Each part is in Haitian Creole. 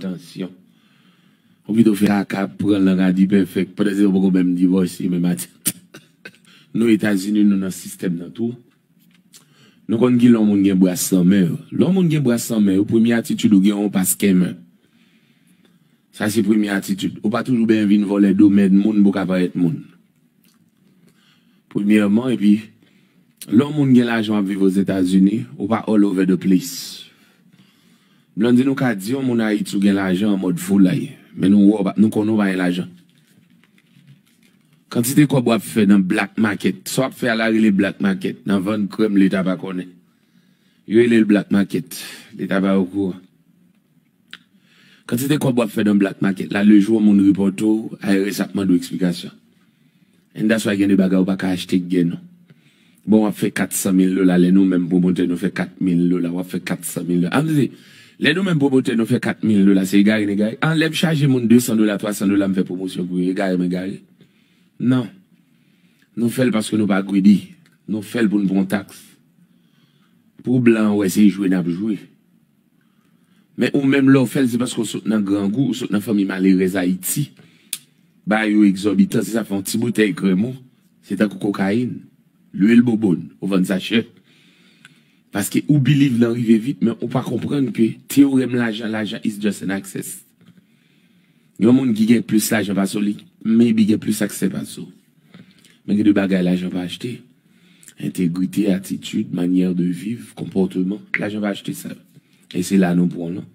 Tansyon. Ou pito fè aka pran lang a dipèfèk pandan se yo poko menm divòse menm ati Nou etazini nou nan sistèm nan tou Nou konn kilè yon moun gen bras lan men yo Lè yon moun gen bras lan men yo premye atitid ou gen yon pa skenmen Sa se premye atitid Ou pa toujou benyen vin vòlè domèn moun pou w ka parèt moun Premyèman epi Lè yon moun gen lajan w ap viv ozetazini ou pa all over the place. Blondine ou ka di yon moun ayiti ou gen lajan an mòd foulay men nou wè w pa nou konnen w pa gen lajan kantite kòb wap fè nan black market sa wap fè a la rele black market nan vann krèm leta pa konnen yo rele l black market leta pa okouran kantite kòb wap fè nan black market la lejou yon moun ripòte w ARS ap mande w eksplikasyon And that's why gen de bagay ou pa ka achte ak gè non. Bon wap fè 400 mil dola lè nou menm pwomotè nou fè 4 mil dola wap fè 400 mil dola. An vle lè nou menm pwomotè nou fè 4 mil dola se egare n egare? An lèm chaje moun 200 dola 300 dola m fè pwomosyon pou yo egare m egare? Non. Nou fèl paske nou pa greedy. Nou fèl pou n pran tax. Pou blan an wè se jwe nap jwe. Men ou menm lè w fè l se paske w sot nan grangou, ou sot nan fanmi malerèz Ayiti. Bay yo egzòbitan, se sa fè yon ti boutèy krèm ou, se tankou kokayin, lwil bouboun, ou vann sa chè. Paske ou biliv nan rive vit men ou pa konprann ke teorèm lajan, lajan is just an access. Yon moun ki gen plis lajan pase w li maybe gen plis aksè pase w. Men gen de bagay lajan pa achte. Entegrite, atitid, manyè de viv, konpòteman. Lajan pa achte sa yo. E se la nou pran lan.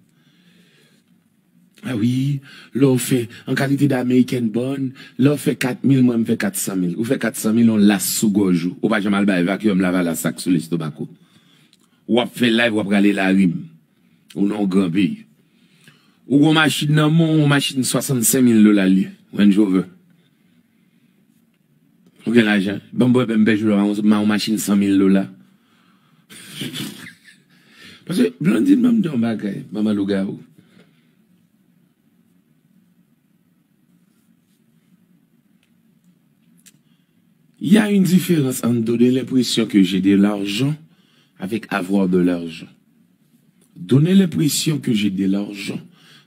A wi, lè w fè an kalite de American born, lè w fè 4 mil mwen m fè 400 mil. Ou fè 400 mil yon las sou gòj ou. Ou pa janm al bay vacuum lavalas ak sou lestomak ou. Wap fè live wap rale larim. Ou nan yon gran peyi. Ou gen yon machin nan men w, yon machin 65 mil dola li ye, Range Rover. Ou gen lajan. Ban m wè bèm pè Jula m ba w yon machin 100 mil dola. Paske Blandine ban m di w yon bagay, manman lougawou. Y a une différence entre donner l'impression que j'ai de l'argent avec avoir de l'argent. Donner l'impression que j'ai de l'argent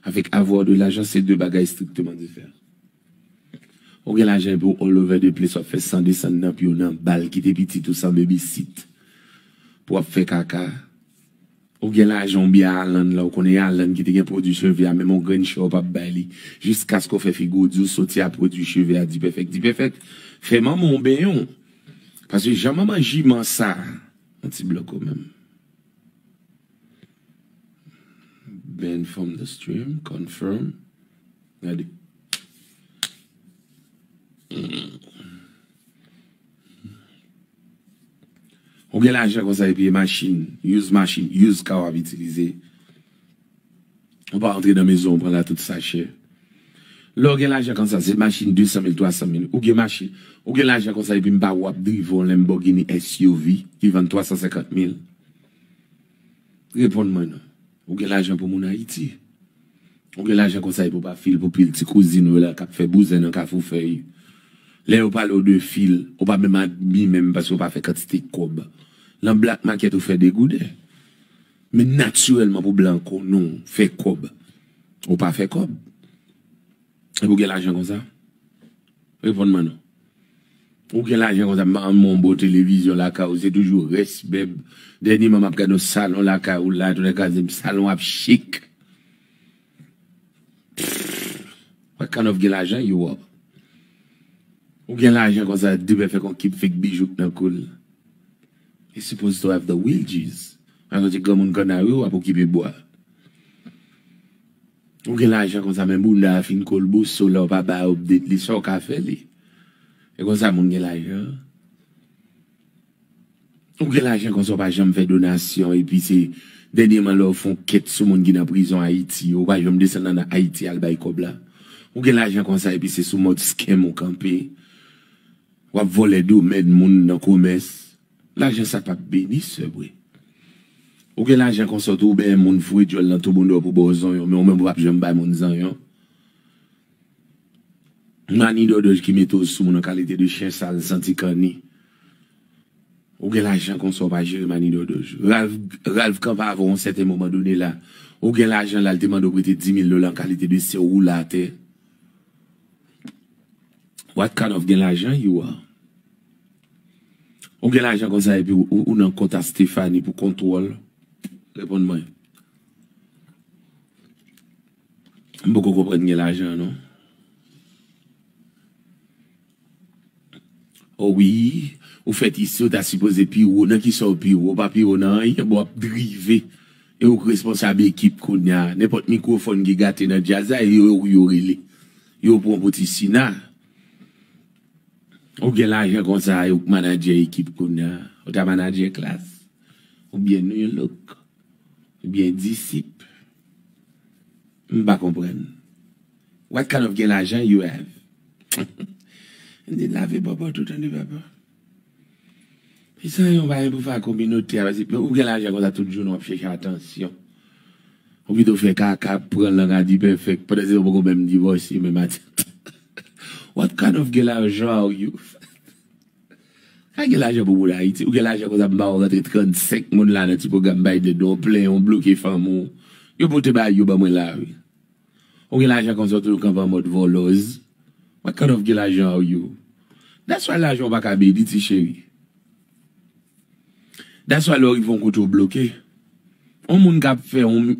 avec avoir de l'argent se 2 bagay strictement diferan. Ou gen lajan epi ou all over the place w ap fè san desann nan pye w nan bal kite pitit ou san babysit pou w ap fè kaka Ou gen lajan ou byen Alan la ou konnen e Alan ki te gen pwodwi cheve a menm yon grenn chè ou pap bay li jiskaske ou fè figi ou di ou soti a pwodwi cheve a Dipèfèk Dipèfèk fè manman w benyen w paske jan manman jiman sa yon ti blòk ou menm Ban from the stream confirm gade. Ou gen lajan konsa epi e machin, use machin, use car wap itilize. Ou pa antre nan mezon ou pran la tout sa chè. Lè ou gen lajan konsa se machin 200 mil, 300 mil. Ou gen machin, ou gen lajan konsa epi m pa wè wap drive yon Lamborghini SUV ki vann 350 mil. Reponn mwen non. Ou gen lajan pou moun ayiti. Ou gen lajan konsa epi ou pa fil pou pil ti kouzin ou yo la kap fè bouzen nan kafou fèy. Lè yo pale w de fil, ou pa menm admi menm paske ou pa fè kantite kòb. Lan black market ou fè degouden. Men natirèlman pou blan kon nou fè kòb, ou pa fè kòb. Epi ou gen lajan konsa? Reponn mwen non. Ou gen lajan konsa m banm yon bon televizyon lakay ou se toujou rès bèb. Dènyeman m ap gade yon salon lakay ou la toulè kaze m salon ap chik. Pfff what kind of gen lajan you are? Ou gen lajan konsa depè fè kon kip fake bijou k nan kou l. You suppose to have the wages. An yon ti granmoun kannari w ap okipe bwa. Ou gen lajan konsa men bounda a fin kolboso lè w pa bay update li sa w ka fè li e konsa moun gen lajan ou gen lajan konsa w pa janm fè donasyon epi se dènyeman lè w fon kèt sou moun ki nan prizon ayiti yo ou pa janm desann an ayiti al bay kòb la ou gen lajan konsa epi se sou mòd scam ou kanpe wap vòlè domèn moun nan komès. Lajan sa pap beni sevre. Ou gen lajan konsa ou tou bèè moun foure dyòl nan tou moune w pou baw zonyon men ou menm ou pap janm bay moun zanyon. Mani dòdòj ki mete w sou moun an kalite de chyen sal santi kanni. Ou gen lajan konsa ou pa jere mani dòdòj. Ralph Ralph kanpe avè w yon sèten moman done la. Ou gen lajan la li te mande w prete 10 mil dola an kalite de se w woule atè. What kind of gen lajan you are? Ou gen lajan konsa epi ou nan kont a Stéphanie pou kontwòl? Reponn mwen. M poko konprann gen lajan non. O wi, ou fèt isi ou ta sipoze pi wo. Nan kisa ou pi wo? Ou pa pi wo nan anyen. Bon w ap drive e ou k responsab ekip kounye a. Nenpòt mikwofòn ki gate nan djaz la e yo ou yo rele. Yo pran w pou ti sina. Ou gen lajan konsa e ou k manager ekip kounya ou ta manager klass oubyen nu look oubyen disip m pa konprann what kind of gen lajan you have anyn lave bòbò tout anyn papa. Kisa yon bagay pou fè ak kominote a. Mezanmi ou gen lajan konsa tout jounen wap chèche atansyon. Ou pito fè kaka pran lang a dipèfèk pandan se ou poko menm divòse menm a tchak tchak. What kind of gen lajan are you? Ka gen lajan pou moun Ayiti. Ou gen lajan konsa m ba ou rantre 35 moun la nan ti pwogram Biden nan ou plenyen ou bloke fanmi w. Yo pote bagay yo ban mwen la wi. Ou gen lajan konsa ou toujou kanpe an mòd vòlòz what kind of gen lajan are you that's why lajan ou pa ka beni ti cheri that's why lè ou rive yon kote ou bloke yon moun ka ap fè yon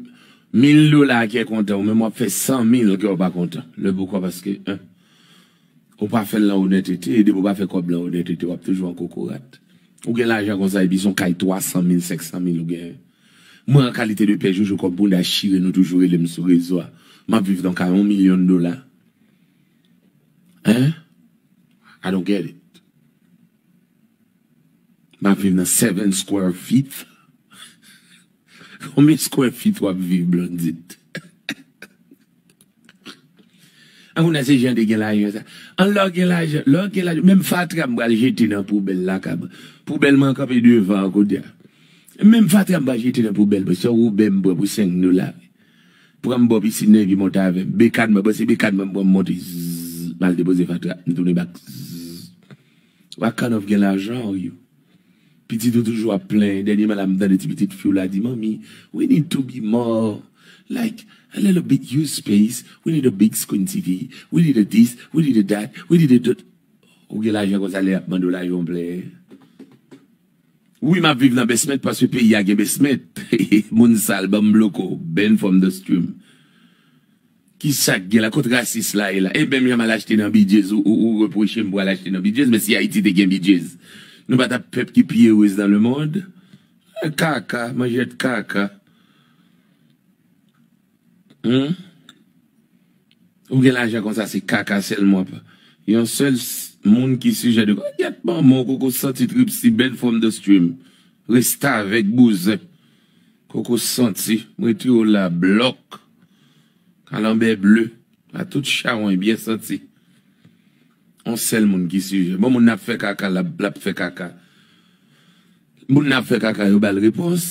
mil dola a kè kontan ou menm wap fè san mil kè ou pa kontan le poukò paske 1 ou pa fèl nan onètete e 2 pou pa fè kòb nan onètete wap toujou an kokorat ou gen lajan konsa epi son kay 300 mil 500 mil ou genyen Mwen an kalite de pè jojo kòb bounda chire nou toujou rele m sou rezo a map viv nan kay on milyon dola hein I don't get it map viv nan seven square feet konbyen square feet wap viv Blondine. Anmwne se jan de gen lajan sa. An lè w gen lajan, lè w gen lajan, menm fatra m pral jete nan poubèl lakay mwen. Poubèl mwen kanpe devan an kounye a. Menm fatra m pral jete nan poubèl mwen. Se yon woubè m pran pou 5 dola. Pran m bò pisin nan epi monte avè m. Bekàn mwen, bon se bekàn mwen m pran m monte zzzz. M al depoze fatra, m tounen bak zzzz. Wa kannòv gen lajan ou yo. Pitit ou toujou ap plenyen dènyeman la m tande ti pitit fiw la di manmi we need to be more like a little bit use space we need a big screen TV we need a this we need a that we need a that ou gen lajan konsa lè yap mandew lajan ou plenyen wi map viv nan besment paske peyi a gen besment moun sal banm bloko Ben from the stream. Kisak gen la kot rasis la ye la ebyen myanm al achte nan bidjez ou repwochem pou al achte nan bidjez men si ayiti te gen bidjez nou pa tap pèp ki pi erez nan lemond kaka manjèt kaka humm ou gen lajan konsa se kaka sèlman wap yon sèl moun ki sijè de gyèt manman w koko santi trip si bèn from the stream restavèk bouzen koko santi m retire w la blòk. Kalanbè ble a tout chawony byen santi. On sèl moun ki sijè. Bon moun nan ap fè kaka lap fè kaka. Moun nan ap fè kaka yo bal repons.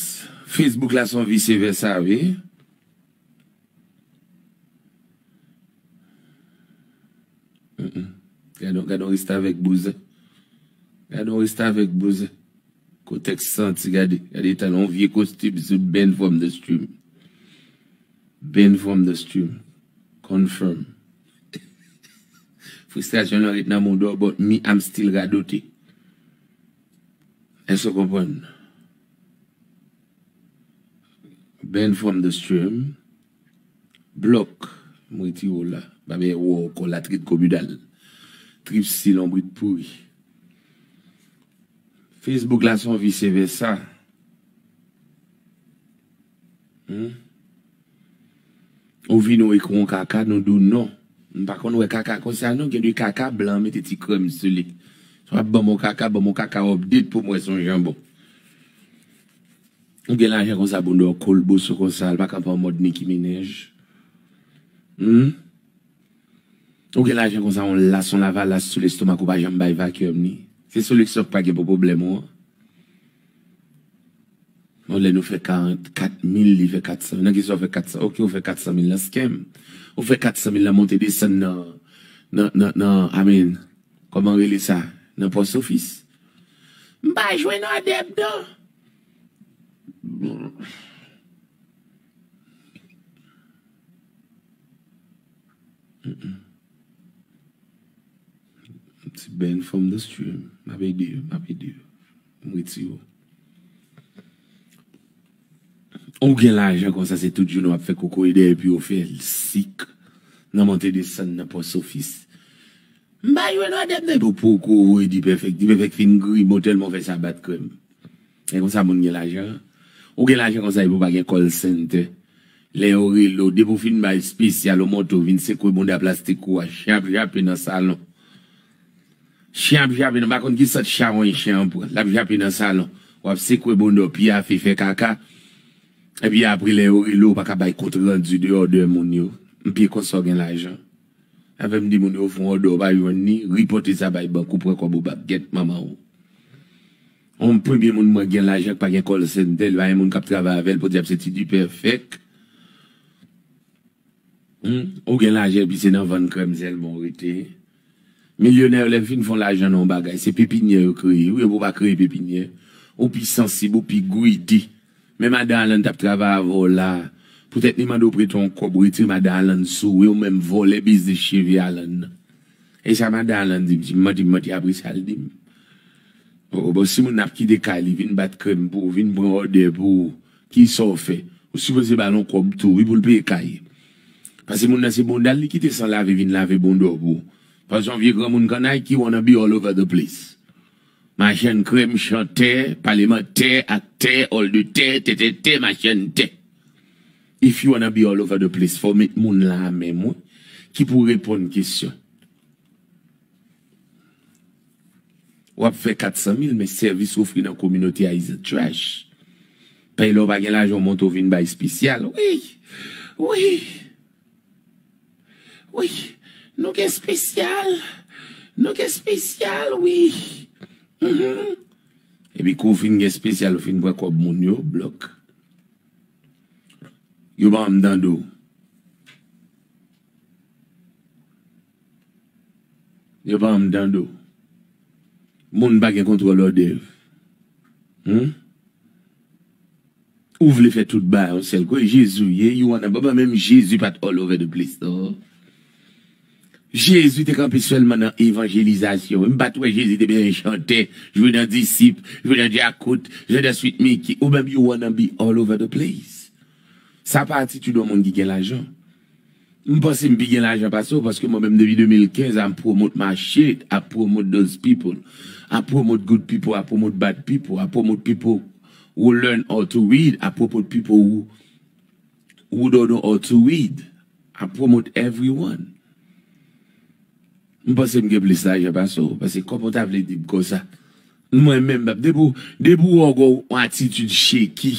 Facebook la son visye vèsa wi. Gadon gadon restavèk bouzen gadon restavèk bouzen kotèks santi gade gade eta yon vye kostim se Ben from the stream Ben from the stream confirm fristrasyon nan ret nan modo but me I'm still radote èske w konprann Ben from the stream. Blòk, m retire w la. M pa bezwen wè w ankò latrin kominal. Trip si lonbrit pouri. Facebook la son vice versa. Hum. Ou vini w ekri yon kaka nou di w non. M pa konn wè kaka konsa non. Gen de kaka blan mete ti krèm sou li. Si w ap ban m yon kaka, ban m yon kaka update pou m wè si w yon janbon. Ou gen lajan konsa pou do kol boso konsa al pa kanpe an mòd Nicki Minaj humm ou gen lajan konsa on las on lavalas sou lestomak ou pa janm bay vacuum ni se sou lestomak pa gen pou pwoblèm ou an on lè nou fè 40 kat mil li fè 400 mil nan kisa ou fè 400 mil ok ou fè 400 mil nan scam ou fè 400 mil nan monte desann nan nan nan nan a min kòman rele sa nan post office m pa jwenn adepte nan. Ti Ben from the stream. M ap ede yo, m ap ede yo. M retire w. Ou gen lajan konsa se tout jounen w ap fè kokoye dèyè epi w fè l sik nan monte desann nan pòsofis. M pa jwe lwa dèm nan epi w poko voye Dipèfèk, Dipèfèk fin grimo tèlman w fè sa bat kè m. E konsa moun gen lajan? Ou gen lajan konsa epi w pa gen call center. Lè yo rele w, depi w fin bay spesyal ou monte w vin sekwe bounda plastik ou a, chen ap jape nan salon. Chen ap jape nan, m pa konn ki sant chawony chen an pran, l ap jape nan salon. W ap sekwe bounda w, pyafe, fè kaka. Epi apre lè yo rele w ou pa ka bay kont randi de odè moun yo. M pi konsa w gen lajan. Avèm di moun yo fon òdè ou pa jwenn li ripote sa bay bank ou pran kòb ou bak gèt manmanw on premye moun mwen gen lajan k pa gen call center li pa gen moun kap travay avèl podyab se ti dipè fèk humm ou gen lajan epi se nan vann krèm sèlman ou rete milyonè yo lè yo fin fon lajan nan on bagay se pepinyè yo kreye wi epi ou pa kreye pepinyè ou pi sansib ou pi greedy Men madan Alan tap travay avè w la poutèt li mande w prete yon kòb retire madan Alan sou w e w menm vòlè biznis cheve Alan nan. E sa madan Alan di m si m manti m manti apre sa l di m oh bon si moun ap kite kay li vin bat krèm pou w vin pran òdè pou w kisa w fè ou sipoze ba l yon kòb tou wi pou l peye kay pase moun nan se bonda l li kite san lave vin lave bonda w pou w pase yon vye granmoun kannay ki won't be all over the place. Machann krèm, chantè, palemantè, aktè, òl de tè, tètètè, machann tè. If you wanna be all over the place fòw met moun la a menm wi ki pou reponn kesyon. Wap fè 400 mil men sèvis ou ofri nan kominote a is a trash. Pèy lè w pa gen lajan w monte w vin bay spesyal. Wi! Wi! Wi nou gen spesyal nou gen spesyal wi humm. Epi kou fin gen spesyal ou fin pran kob moun yo blok yo banm dan do. Yo pa anm tande w. Moun pa gen kontwòl òdèv. Humm. Ou vle fè tout bagay yon sèl kou e Jezi w ye? You wanna Baba menm Jezi pat all over the place non. Jezi te kanpe sèlman nan evanjelizasyon wi. M pat wè Jezi te bezwen chantè, jwe nan disip, jwe nan djakout, jwe nan Sweet Micky ou menm you wanna be all over the place. Sa pa atitid yon moun ki gen lajan. M panse m pi gen lajan pase w paske mwen menm depi 2015 a m promote my shit, I promote those people, I promote good people, I promote bad people, I promote people who learn how to read, I promote people who who don't know how to read, I promote everyone. M panse m gen plis lajan pase w paske kòman w ta vle di m konsa mwen menm depi w depi w wè w gen yon attitude shaky.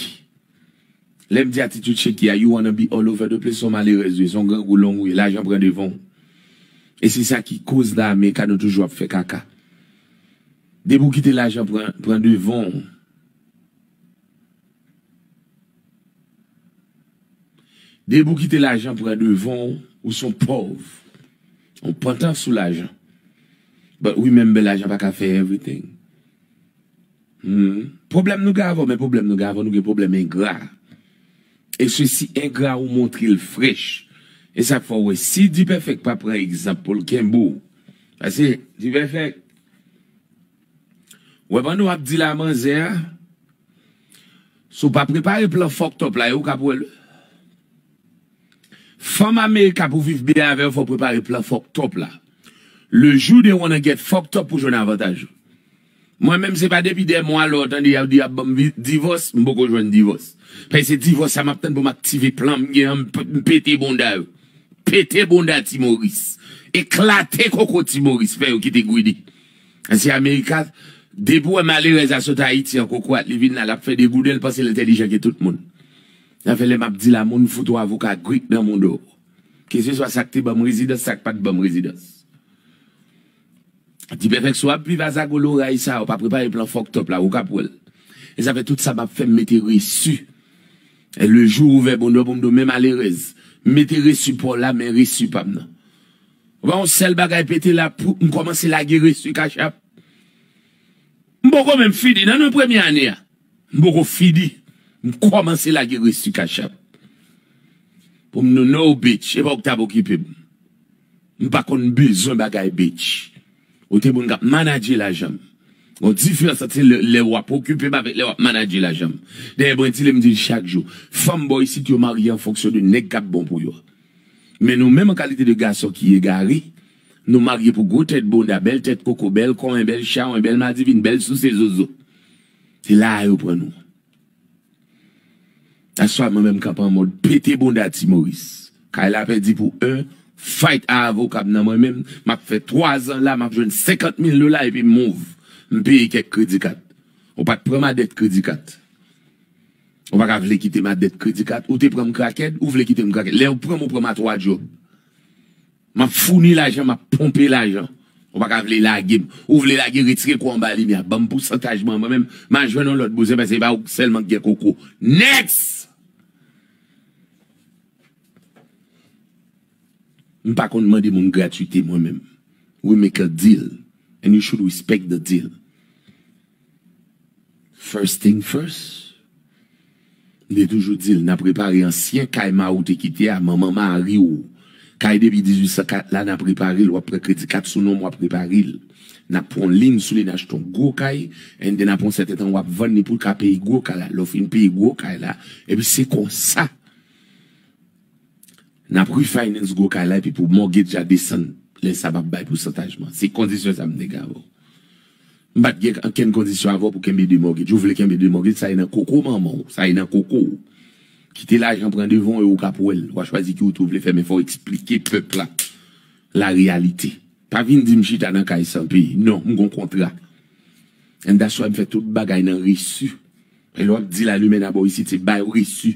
Lè m di atitid Sheki a, you wanna be all over the place, son malerèz ou ye, son grangou long ou ye, lajan pran devan w. E se sa ki koz la America nou toujou ap fè kaka. Depi w kite lajan pran pran devan w. Depi w kite lajan pran devan w, ou son pòv. Ou pantan sou lajan. But remember lajan pa ka fè everything. Humm problème nou gen avèw men problème nou gen avèw nou gen problème engra e se si engra ou montrel frech e sak fè ou wè si dipèfèk pa pran egzanp poul kenbe w pase dipèfèk wè pandan wap dil a manzè a si w pa prepare plan fucked up la e ou kap wèl wi fanm america pou viv byen avèw fòw prepare plan fucked up la le jou they wanna get fucked up pou jwenn avantaj ou. Mwen menm se pa depi dè mwa lè w tande y ap di y ap ban m divòs m poko jwenn divòs. Paske se divòs sa m ap tann pou m aktive plan m gen an m pete bounda yo. Pete bounda ti Moris. Eklate koko ti Moris fè yo kite goude. Paske Amerika depi w wè malerèz la sot Ayiti an kokorat li vin la l ap fè degouden l panse l entèlijan ke tout moun. Sa fè lè m ap di la moun fout ou avoka Grek nan moun ou. Keseswa sa k te ban m rezidans sa k pa t ban m rezidans. Di perfect si wap viv a zago loray sa ou pa prepare plan fucked up la ou kap wèl e sa fè tout sa map fèm mete reçu e le jour ou ouvè bondò poum do men malerèz m mete reçu paw la men reçu pam nan ou pa wè yon sèl bagay pete la poum kòmanse lage reçu cash app m poko menm fini nan nan premye ane a m poko fini m kòmanse lage reçu cash app poum do no bitch epa ou k tap okipem. M pa konn bezwen bagay bitch. Ou te moun kap manadje lajan m. Gon diferans ant se lè wap okipe m avèk lè wap manadje lajan m. Dayè mwen di li m di l chak jou. Fanm bò isit yo marye an fonksyon de nèg kap bon pou yo. Men nou menm an kalite de gason ki egare, nou marye pou gwo tèt bonda, bèl tèt koko, bèl konyen, bèl chawony, bèl madivin, bèl souse zozo. Se la a yo pran nou. That's why mwen menm kap an mòd pete bounda ti moris. Kay la pèdi pou 1 fight a avokam nan mwen menm map fè 3 zan la map jwenn 50 mil dola epi move m peye kèk kredi kat. Ou pat pranm a dèt kredi kat. Ou paka vle kitem a dèt kredi kat. Ou te pranm krakèd ou vle kitem krakèd. Lèw pranm ou pranm a 3 djòb. M ap founi lajan, m ap ponpe lajan. Ou pa ka vle lage m. Ou vle lage, retire kò w anba limyè a. Ban m pousantaj mwen, mwen menm, m a jwenn yon lòt bouzen pase e pa ou sèlman ki gen koko. Next! M pa konn mande moun gratuite mwen menm. We make a deal and you should respect the deal. First thing first, m te toujou di l n ap repare ansyen kay ma ou te kite a, manman mari w, kay depi 1804 la n ap repare l, w ap pran kredi kat sou non m w ap repare l. N ap pran yon liy sou li n achte yon gwo kay and then apre yon sèten tan w ap vann li pou l ka peye gwo kay la. Lè w fin peye gwo kay la, epi se konsa. Nap refinance gwo kay la epi pou mortgage la desann lè sa map bay pousantaj man se kondisyon sa m te gen avè w m pat gen ankenn kondisyon avè w pou kenbe 2 mortgage ou vle kenbe 2 mortgage sa e nan koko manman w sa e nan koko w kite lajan pran devan w e ou kap wè l wa chwazi ki wout ou vle fè men fò w eksplike pèp la la reyalite pa vin di m chita nan kay san peye non m gon kontra and that's why m fè tout bagay nan reçu e lè wap di la lumen a bò isit se bay reçu.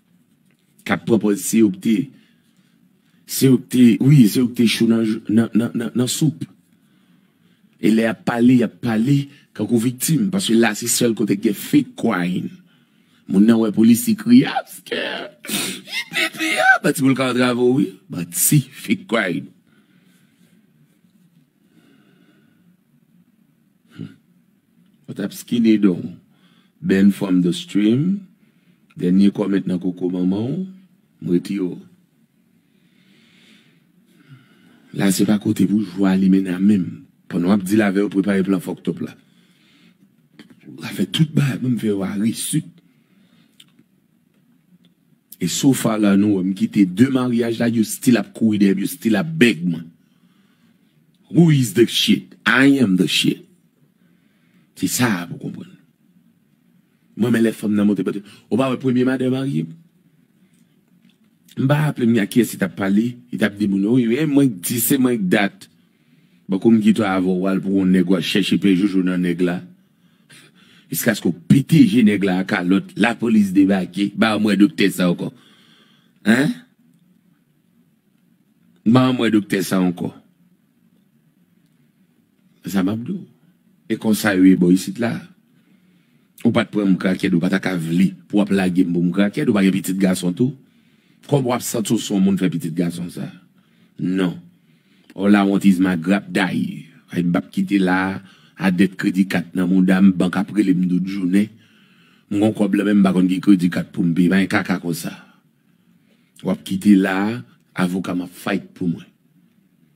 kap pran pòz se yo ki te se yo ki te wi se yo ki te cho nan nan nan nan nan soup e lè yap pale yap pale kankou viktim paske la se sèl kote ki gen fake crying moun nan wè polisye kriye ap pske ipipi a manti pou l ka antrave w wi manti fake crying. Ou tap skine don w. Ban from the stream Dènye comment nan koko manman w M retire w La se pa kote pou jwe a Limena menm pandan wap deal avè yo prepare plan fucked up la Wap fè tout bagay pou m fè yo a resit. E so far la nou wè m kite 2 maryaj la yo still ap kouri dèyè m yo still ap beg mwen who is the shit I am the shit se sa a pou konprann m renmen lè fanm nan monte bòt yo ou pa wè premye madan marye m m pa raple m a kiyès li tap pale li tap di moun wi e mwen k di se mwen k dat bankou m gitwa avè w al pou on nèg wal chèche pè jojo nan nèg la. Jiskaske w pete je nèg la a kalòt, lapolis debake, ba m wè doktè sa ankò. Hein? Ba m wè doktè sa ankò. Se sa m ap di w. E konsa yo ye bò isit la. Ou pa t pran m krakèt, ou pa ta ka vle pou w ap lage m pou m krakèt, ou pa gen pitit gason tou? Kòman w ap santi w se yon moun fè pitit gason sa? Non. All I want is my grap day ay m pap kite la a dèt kredi kat nan mouda m bank ap rele m tout jounen m gon kòb la men m pa konn ki kredi kat pou m peye bagay kaka konsa wap kite la a avoka m ap fight pou mwen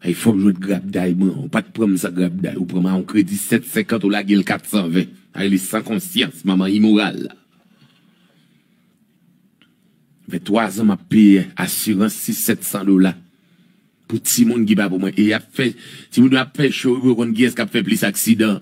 ay fòk jwenn grap day mwen an ou pat pran m san grap day ou pran m a yon kredi 750 ou lage l 420 sa rele san konsyans manman imoral la fè 3 zan m ap peye asirans 6 700 dola. Pou timoun ki pa pou mwen. E yap fè timoun yo ap fè show epi yo konn kiyès kap fè plis aksidan.